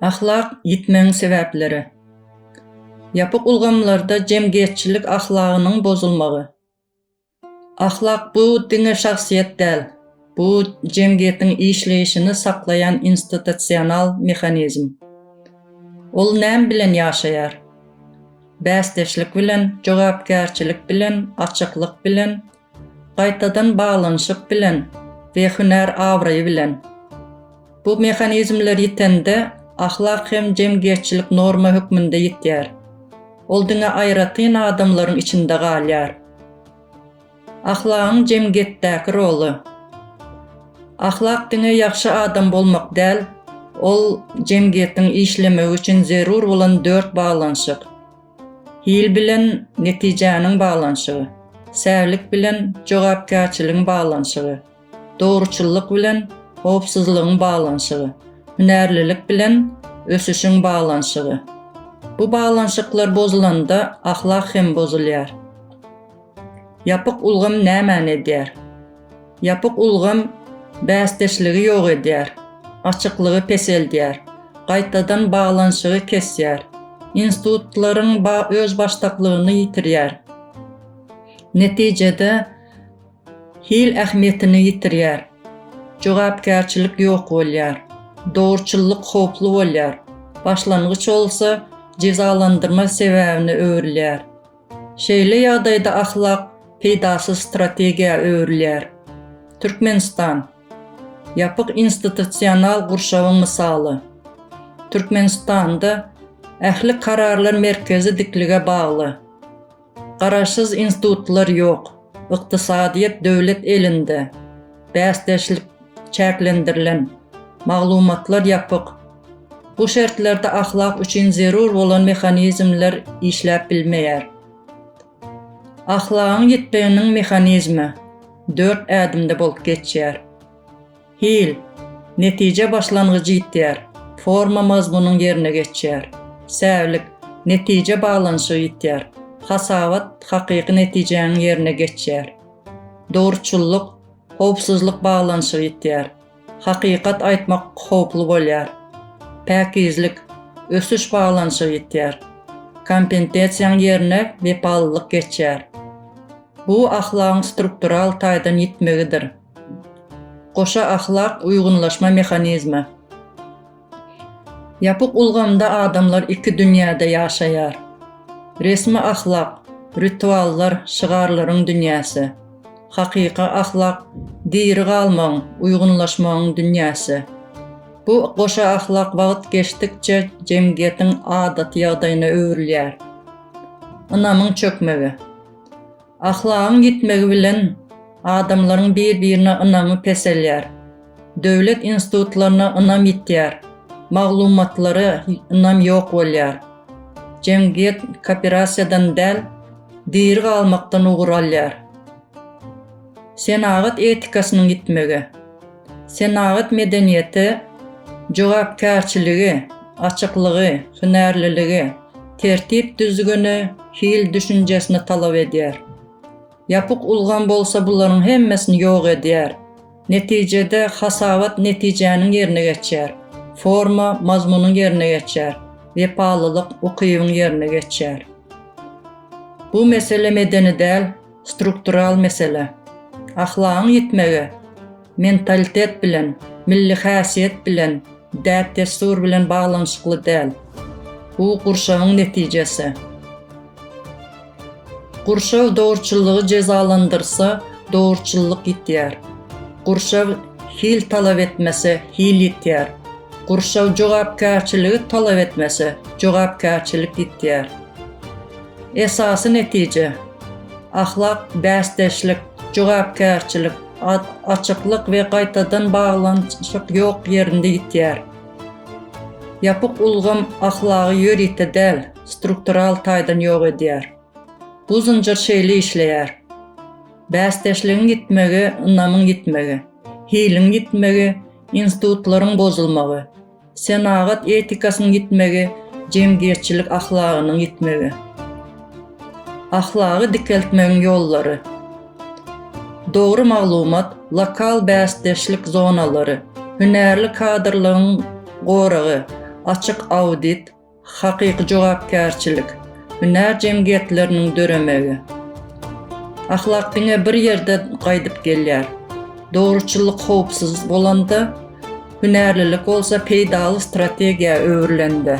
Ahlak ýitmegiň sebäpleri. Ýapyk ulgamlarda jemgyýetçilik ahlagynyň bozulmagy. Ahlak bu diňe şahsyýet däl, bu jemgyýetiň işleýşini saklaýan institusional mehanizm. Ol näme bilen ýaşaýar? Bäsdeşlik bilen, jogapkärçilik bilen, açyklyk bilen, Gaýtadan baglanyşyk bilen we hünär abraýy bilen. Bu mehanizmler ýitende, ahlak hem jemgyýetçilik norma hökmünde ýitýär. Ol diňe aýratyn adamlaryň içinde galýar. Ahlagyň jemgyýetdäki roly. Ahlak diňe ýagşy adam bolmak däl, ol jemgyýetiň işlemegi üçin zerur bolan dört baglanyşyk. Hil bilen netijäniň baglanyşygy, Särlik bilen jogapkärçiligiň baglanyşygy, Dogruçyllyk bilen howpsuzlygyň baglanyşygy, Hünärlilik bilen ösüşiň baglanyşygy. Bu baglanyşyklar bozulanda ahlak hem bozulýar. Ýapyk ulgam nämäni edýär? Ýapyk ulgam bäsdeşligi ýok edýär, açyklygy peseldýär, gaýtadan baglanyşygy kesýär, institutlaryň özbaşdaklygyny ýitirýär. Netijede, hil ähmiýetini ýitirýär, jogapkärçilik ýok bolýar, dogruçyllyk howply bolýar, başlangyç bolsa jezalandyrma sebäbine öwrülýär. Şeýle ýagdaýda ahlak peýdasyz strategiýa öwrülýär. Türkmenistan, ýapyk institusional gurşawyň mysaly. Türkmenistanda ähli kararlar merkezi diklige bagly. Garaşsyz institutlar ýok, ykdysadyýet döwlet elinde, bäsdeşlik çäklendirilen, maglumatlar ýapyk. Bu şertlerde ahlak üçin zerur bolan mehanizmler işläp bilmeýär. Ahlagyň ýitmeginiň mehanizmi dört ädimde bolup geçýär. Hil, netije başlangyjy ýitýär, forma mazmunyň ýerine geçýär. Säwlik, netije baglanyşygy ýitýär, hasabat hakyky netijäniň ýerine geçýär. Dogruçyllyk, howpsuzlyk baglanyşygy ýitýär. Hakykat aýtmak howply bolýar. Päkizlik, ösüş baglanyşygy ýitýär. Kompentesiýaň ýerine wepalylyk geçýär. Bu ahlagyň struktural taýdan ýitmegidir. Goşa ahlak uýgunlaşma mehanizmi. Ýapyk ulgamda adamlar iki dünýäde ýaşaýar. Resmi ahlak, rituallar, şygarlaryň dünýäsi. Hakyky ahlak, diri galmagyň, uýgunlaşmagyň dünýäsi. Bu goşa ahlak wagt geçdikçe jemgyýetiň adaty ýagdaýyna öwrülýär. Ynamyň çökmegi. Ahlagyň ýitmegi bilen adamlaryň bir-birine ynamy peselýär. Döwlet institutlaryna ynam ýitýär, maglumatlara ynam ýok bolýar. Jemgyýet kooperasiýadan däl, diri galmakdan ugur alýar. Senagat etikasynyň ýitmegi. Senagat medeniýeti jogapkärçiligi, açyklygy, hünärliligi, tertip-düzgüni, hil düşünjesini talap edýär. Ýapyk ulgam bolsa bularyň hemmesini ýok edýär. Netijede hasabat netijäniň ýerine geçýär, forma mazmunyň ýerine geçýär, wepalylyk ukybyň ýerine geçýär. Bu mesele medeni däl, struktural mesele. Ahlagyň ýitmegi mentalitet bilen, milli häsiýet bilen, däp-dessur bilen baglanyşykly däl. Bu gurşawyň netijesi. Gurşaw dogruçyllygy jezalandyrsa, dogruçyllyk ýitýär. Gurşaw hil talap etmese, hil ýitýär. Gurşaw jogapkärçiligi talap etmese, jogapkärçilik ýitýär. Esasy netije, ahlak, bäsdeşlik, jogapkärçilik, açyklyk we gaýtadan baglanyşyk ýok ýerinde ýitýär. Ýapyk ulgam ahlagy ýörite däl, struktural taýdan ýok edýär. Bu zynjyr şeýle işleýär. Bäsdeşligiň ýitmegi, ynamyň ýitmegi, hiliň ýitmegi, institutlaryň bozulmagy, Senagat etikasynyň ýitmegi, jemgyýetçilik ahlagynyň ýitmegi. Ahlagy dikeltmegiň ýollary. Dogry maglumat, lokal bäsdeşlik zonalary, hünärli kadrlygyň goragy, açyk audit, Hakyky jogapkärçilik, hünär jemgyýetleriniň döremegi. Ahlak diňe bir ýerde gaýdyp gelýär. Dogruçyllyk howpsuz bolanda, hünärlilik bolsa peýdaly strategiýa öwrülende.